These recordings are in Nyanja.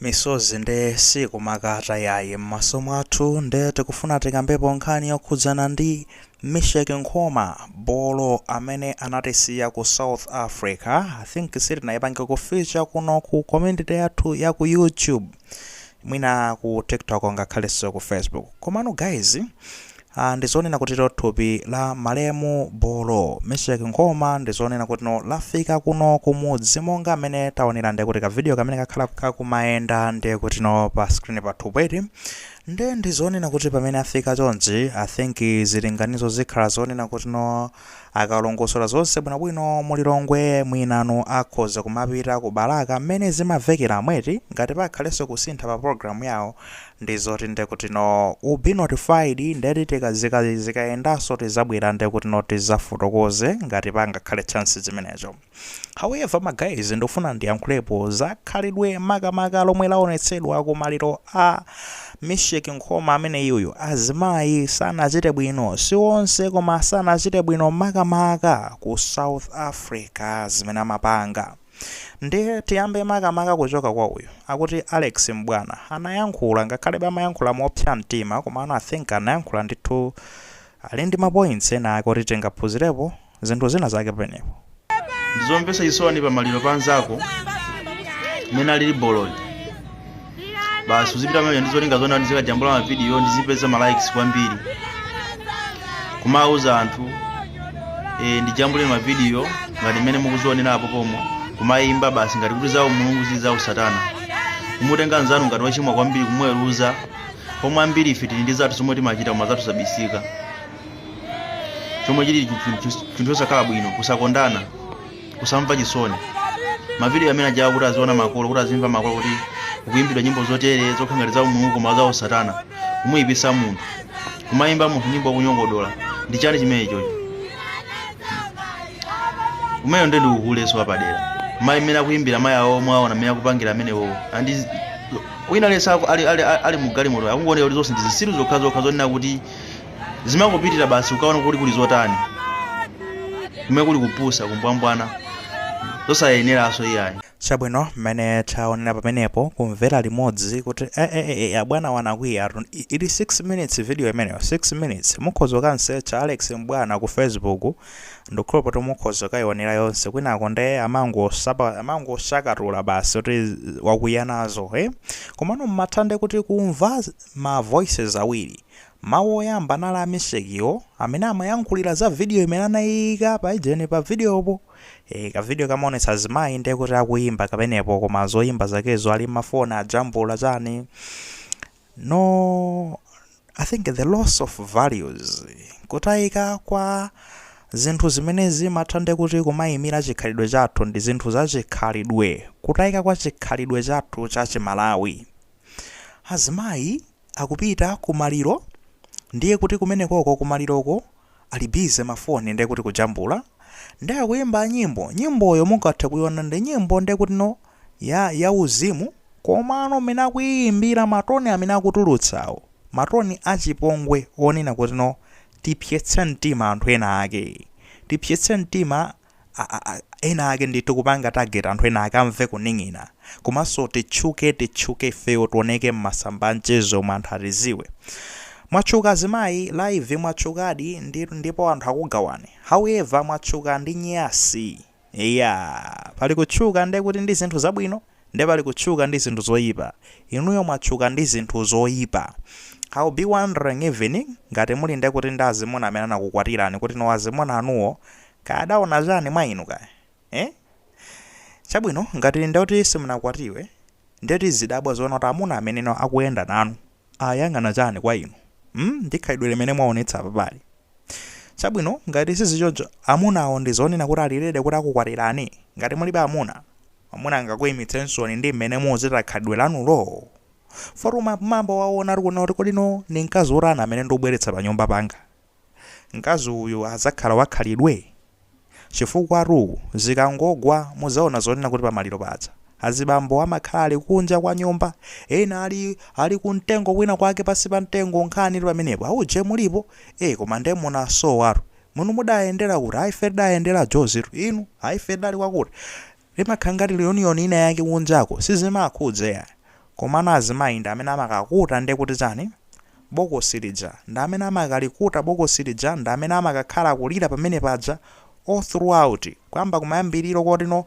misozi nde sikumakata yayi m'maso mwathu nde tikufuna tikambepo nkhani yokhudzana ndi Misheck Nkhoma bolo amene anatisiya ku south africa i think sitinayipange feature kuno ku community yathu ya ku youtube mwina ku tiktok ngakhalenso ku facebook komano guys Ha, ndi zonena kutino thupi la malemu Bolo, Misheck Nkhoma ndi zonena kutino lafika kuno kumudzi monga m'mene taonera ndiye kuti ka video kamene kakhala kakumayenda ndiye kutino pa screen pathupo eti. Ndiye ndi zonena kuti pamene afika chonchi, I think zilinganizo zikhala zonena kutino. Akalongosola zonse bwinobwino mu Lilongwe mwinano akhoza kumapita ku Balaka mmene zimamvekeramo eti ngati pakhalenso kusintha pa program yawo ndizoti ndekuti no you'll be notified ndeti tikazika zikayendanso tizabwera ndekuti no tizafotokoze ngati pangakhale changes zimenezo. However my guys ndikufuna ndiyankhulepo za khalidwe makamaka lomwe lawonetsedwa ku maliro a Misheck Nkhoma ameneyuyu. Azimayi sanachite bwino, si onse koma sanachite bwino makamaka ku South Africa zimene amapanga. Nde tiyambe makamaka kuchoka kwa uyu akuti Alex M'bwana anayankhula ngakhalebe amayankhula mopsa mtima komano I think anayankhula ndithu ali ndi ma points ena ake oti tingaphunzirepo zinthu zina zake penepo. ndizomvetsa chisoni pa maliro pa anzako mmene alili Bolo basi uzipita pamene ndi zolinga zona ndizikajambula mavidiyo ndizipeza ma likes kwambiri kumauza anthu e, ndijambule mavidiyo ngati mmene mukuzionera apo pomwe kumayimba basi ngati kuti za umulungu zili za usatana kumutenga nzanu ngati wachimwa kwambiri kumweruza pomwe ambiri ife tili ndi zathu zomwe timachita koma zathu zabisika chomwe chili chi- chi- chi- chinthu chosakhala bwino kusakondana kusamva chisoni mavidiyo amene ajawa kuti aziona makolo kuti azimva makolo kuti kuyimbidwa nyimbo zotere zokhala ngati za umulungu koma za usatana kumuyipitsa munthu kumayimba munthu nyimbo kumunyogodola ndi chani chimene ichocho umeyo ndi ndiuhuleso wapadera mayi mmene akuyimbira mayi awo mwaona mmene akupangira amenewo andi wina lesa ali, ali, ali, ali mugalimoto akungoonera kuti zonse ndi zitsiru zokhazokha zonena kuti zimangopitira basi ukaona kuti kuli zotani kumene kuli kupusa kumbwambwana zosayeneranso iyayi chabwino mmene taonera pamenepo kumvera limodzi kuti eh, eh, eh, abwanawa anakwiya atu- i- ili 6 minutes video imeneyo 6 minutes mukhoza kukamsecha alex mbwana ku facebook ndikhulupirira kuti mukhoza kukayionera yonse kwinako nde amangosapa- amangosakatula basi kuti wakwiya nazo eh? komano mmafuna nde kuti kumva ma voices awiri. Mawu oyamba anali a Mesekiyo amene amayankhulira za video imene anaiika paijeni pa videopo. Eeh ka video kamaonetsa azimayi nde kuti akuyimba kamenepo koma zoimba zakezo ali ma phone ajambula chani. No I think the loss of values, kutaika kwa zinthu zimene zimatha nde kuti kumaimira chikhalidwe chathu ndi zinthu za chikhalidwe, kutaika kwa chikhalidwe chathu cha chi Malawi. Azimayi akupita ku maliro ndiye kuti kumenekoko ku maliroko ali busy ma phone ndiye kuti kujambula. Ndiye akuyimba nyimbo, nyimboyo mungathe kuyiwona ndi nyimbo ndiye kuti no ya ya uzimu komano mmene akuyiyimbira ma tone amene akutulutsawo ma tone achipongwe onena kuti no tipsyetse mtima anthu ena ake, tipsyetse mtima a ena ake ndithu kupanga target anthu ena ake amve kuning'ina komanso titchuke titchuke ifeyo tioneke mmasamba amchezo umu anthu atiziwe mwatchuka azimayi live mwatchukadi ndi, ndipo anthu akugawani however mwatchuka ndi nyasi eya pali kutchuka nde kuti ndi zinthu zabwino Nde pali kutchuka ndi zinthu zoyipa. Inuyo mwatchuka ndi zinthu zoyipa. I will be wondering even ngati muli nde kuti ndi azimuna amene anakukwatirani kuti no azimuna anuwo kaya adaona chani mwa inu kaya eh? Chabwino ngati ndekuti simunakwatiwe nde tizidabwa zoona kuti amuna amene no akuyenda nanu ayang'ana chani kwa inu mm ndi khalidwe limene mwaonetsa apapali? Chabwino ngati sizichoncho amunawo ndizonena kuti ali ready kuti akukwatirani? Ngati mulibe amuna, mwamuna angakuimitsensoni ndi mmene mukuchita khalidwe lanulo? Fort umaymba waona tikunena kuti kodi no ndi mkazi wotani amene ndikubweretsa panyumba panga? Mkazi uyu azakhala wakhalidwe? Chifukwatu zikangogwa muzaona zonena kuti pamaliro paja azibambo amakhala ali kunja kwa nyumba ena ali ali kumtengo kwina kwake pasi pa mtengo nkhanitu pamenepo auje mulipo ee koma nde munasowatu muno mudayendera kuti ayi ife tidayendera Jozitu inu ayi ife tidali kwakuti Limakhala ngati reunion ina yake kunjako sizimakhudza iyayi komano azimayi ndi amene amakakuta nde kuti chani bokosi lija ndi amene amakalikuta bokosi lija ndi amene amakakhala akulira pamene paja all throughout kuyamba kumayambiliro koti no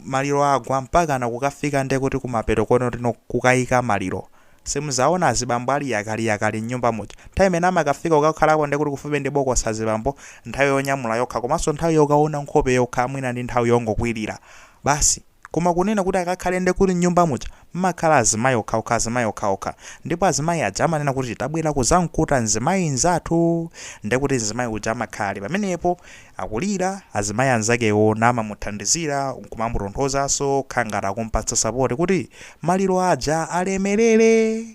maliro agwa mpakana kukafika nde kuti kumapeto koti no kukayika maliro Simuzaona azibambo ali yakali yakali mnyumba muja. Nthawi imene amakafika kukakhalako ndekuti kufupi ndi bokosi azibambo, nthawi yonyamula yokha komanso nthawi yokaona nkhope yokha mwina ndi nthawi yongokwirira. Basi. Koma kunena kuti akakhale ndekuti mnyumba muja mmakhala azimayi okhaokha azimayi okhaokha. Ndipo azimayi aja amanena kuti tabwera kuzamkuta mzimayi mzathu. Ndekuti mzimayi uja amakhala ali pamenepo. akulira, azimayi anzakewo namamuthandizira nkumamutonthozanso kukhala ngati akumpatsa support kuti maliro aja alemerere!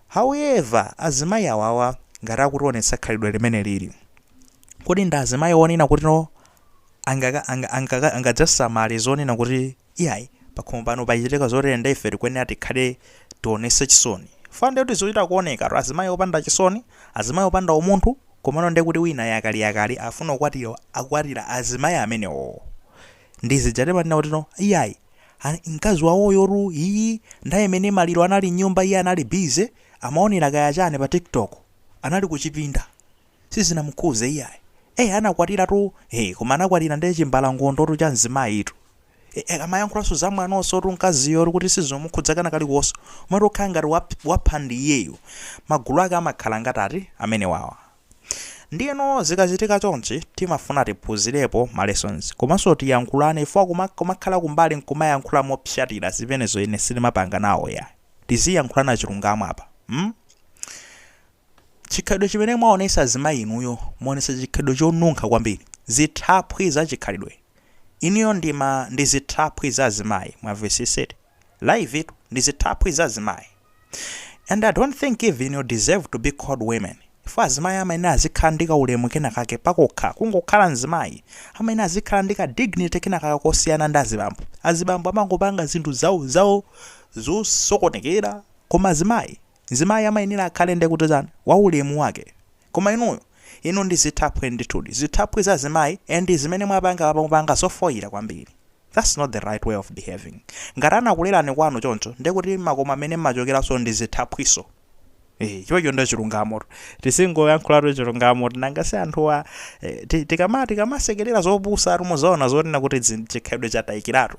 However, azimayi awawa ngati akutionetsa khalidwe limenelili, kodi ndi azimayi onena kutino angaka anga angaka angadzasamale zonena kuti iyayi pakhomo pano pachitika zotere nde ife tikuyenera tikhale tionese chisoni fana nde kuti zikuchita kuoneka tu azimayi opanda chisoni azimayi opanda umunthu komano nde kuti wina yakali yakali afuna kukwatira akukwatira azimayi amenewowo ndi zija timanena kuti no iyayi a- mkazi wawoyotu iye nthawi imene maliro anali mnyumba iye anali busy amaonera kaya chani pa tiktok anali kuchipinda sizinamukhuze iyayi ee anakwatira tu ee koma anakwatira nde chimbalangondo tu cha mzimayi tu ee akamayankhulanso za mwanonso tu mkaziyo tu kuti sizimukhudza kana kalikonso kumati kukhala ngati wap, wapha ndi iyeyo magulu ake amakhala ngati a amenewawa ndiyeno zikachitika chonchi timafuna tiphunzirepo ma lessons komanso tiyankhulane ife kuma- kumakhala kumbali nkumayankhula mopsatira zimenezo ine sitimapanga nawo ya tiziyankhulana chilungamo apa mm? Chikhalidwe chimene mwaonetsa azimayi inuyo mwaonetsa chikhalidwe chonunkha kwambiri. Zithaphwi za chikhalidwe. Inuyo ndi ma ndi zithaphwi za azimayi. Mwamvetsetsa eti? Live tu. Ndi zithaphwi za azimayi. And I don't think even you deserve to be called women. Chifukwa azimayi amayenera azikhala ndi kaulemu kena kake pakokha. Kungokhala mzimayi amayenera azikhala ndi ka dignity kena kake kosiyana ndi azibambo. Azibambo amangopanga zinthu zawo zawo zosokonekera koma azimayi Mzimayi amayenera akhale ndekuti, chani, wa ulemu wake. Koma inuyo, inu ndi zithaphwi ndithudi, zithaphwi za azimayi, and zimene mwapanga apa mwapanga zofoira kwambiri. That's not the right way of behaving. Ngati anakulerani kwanu choncho, ndiye kuti makomo amene mmachokeranso ndi zithaphwinso. Eeh, chimecho nde chilungamotu. Tizingoyankhulatu chilungamotu nanga si anthuwa eh, ti, tikama, tikamasekerera zopusa tu mudzaona zonena kuti dzi, chikhalidwe chataikiratu.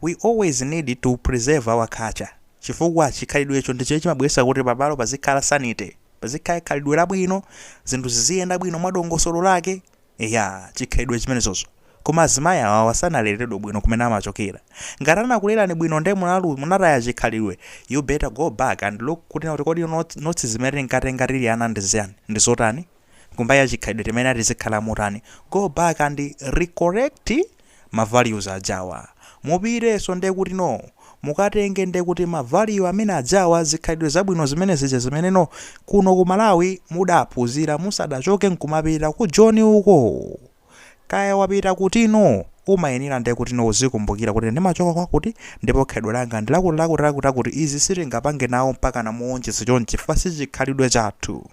We always need to preserve our culture chifukwa chikhalidwecho ndicho chimabweretsa kuti pabalo pazikhala sanity, pazikhala khalidwe labwino, zinthu ziziyenda bwino mwa dongosolo lake. Eya, chikhalidwe chimenechocho. Koma azimayi awawa sanaleredwe bwino kumene amachokera. Ngati anakulerani bwino nde munalu, munataya chikhalidwe, you better go back and look kuti kuti kodi notes, notes zimene tinkatenga tili ana ndi ziyani, ndi zotani? kumbali ya chikhalidwe timayenera tizikhala motani go back and recorrect ma values ajawa mupitenso ndekuti no mukatenge ndekuti ma value amene ajawa zikhalidwe zabwino zimene zija zimene no kuno ku Malawi mudaphunzira musadachoke nkumapita ku Joni uko kaya wapita kuti no umayenera ndekuti no uzikumbukira kuti ndimachoka kwakuti ndipo khalidwe langa ndilakuti lakuti lakuti lakuti izi sitingapange nawo mpaka namuonjedza chonchi chifukwa si chikhalidwe chathu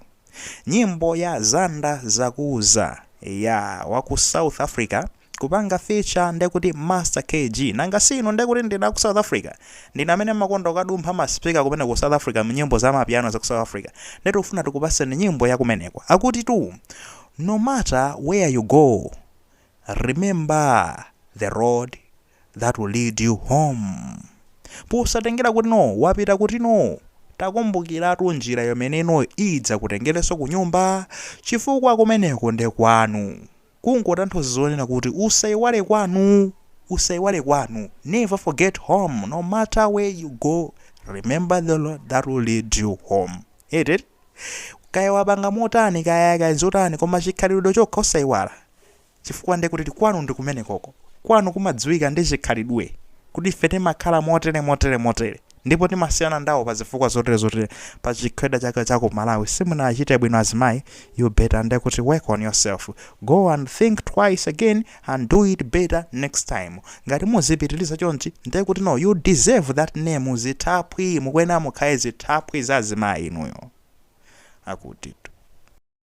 Nyimbo ya Zanda Zakuuza ya wa ku South Africa kupanga feature ndekuti Master KG. Nanga si inu ndekuti ndinu a ku South Africa. Ndinu amene mmakonda kukadumpha ma speaker kumeneko ku South Africa mu nyimbo za mapiano za ku South Africa. Nde tikufuna tikupatseni nyimbo ya kumeneko. Akuti tu no matter where you go remember the road that will lead you home posatengera kuti no wapita kuti no takumbukiratu njira yomene no idzakutengereso kunyumba chifukwa kumeneko nde kwanu kungotanthauza zonena kuti usaiwale kwanu usaiwale kwanu never forget home no matter where you go remember the road that will lead you home ete kaya wapanga motani kaya kaya nzotani koma chikhalidwe chokha usaiwale chifukwa nde kuti kwanu ndi kumenekoko. Kwanu kumadziwika ndi chikhalidwe kuti ife timakhala motere motere motere ndipo timasiyana ndawo pa zifukwa zotere zotere pa chikhalidwe chake cha ku Malawi simunachite bwino azimayi you better nde kuti work on yourself go and think twice again and do it better next time ngati muzipitiliza chonchi nde kuti no you deserve that name zithaphwi mukuyenera mukhale zithaphwi za azimayi inuyo akutitu.